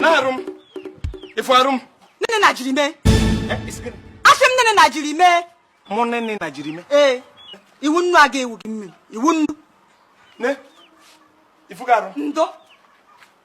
na-arụ m ifu arụ m nene na jiri mee asị m nene na jiri mee mụ nene na jiri mee ee ị wụ nnu a ga-awụ gị mmiri ị wụ nnu ne ifu ga arụ ndo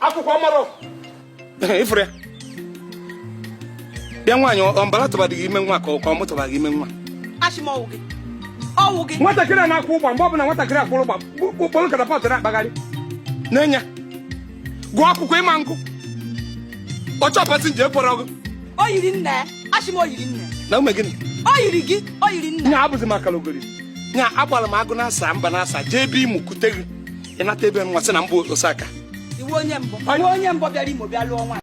akwụkwọ mara ifuru ya bịa nwaanyị ọmbara tụbadịghị ime nwa ka ọ mụtụbaghị ime nwa nwatakịrị a na-akwụ ụgba mgbe ọ bụla nwatakịrị akwụrụ ụgba kpụrụ katapọtụ na-akpagharị n'enya gụọ akwụkwọ ịma nkụ ọchọ pasinja ekwere ọgụ o yiri nne achị m o yiri nne na ume gịnị o yiri gị o yiri nne nya abụzi maka logori nya agbara m agụ na-asa mba na-asa jee ebe imu kute gị ịnata ebe nwa sị na mbụ Osaka ị wụ onye mbụ onye mbụ bịara Imo bịa lụọ nwaanyị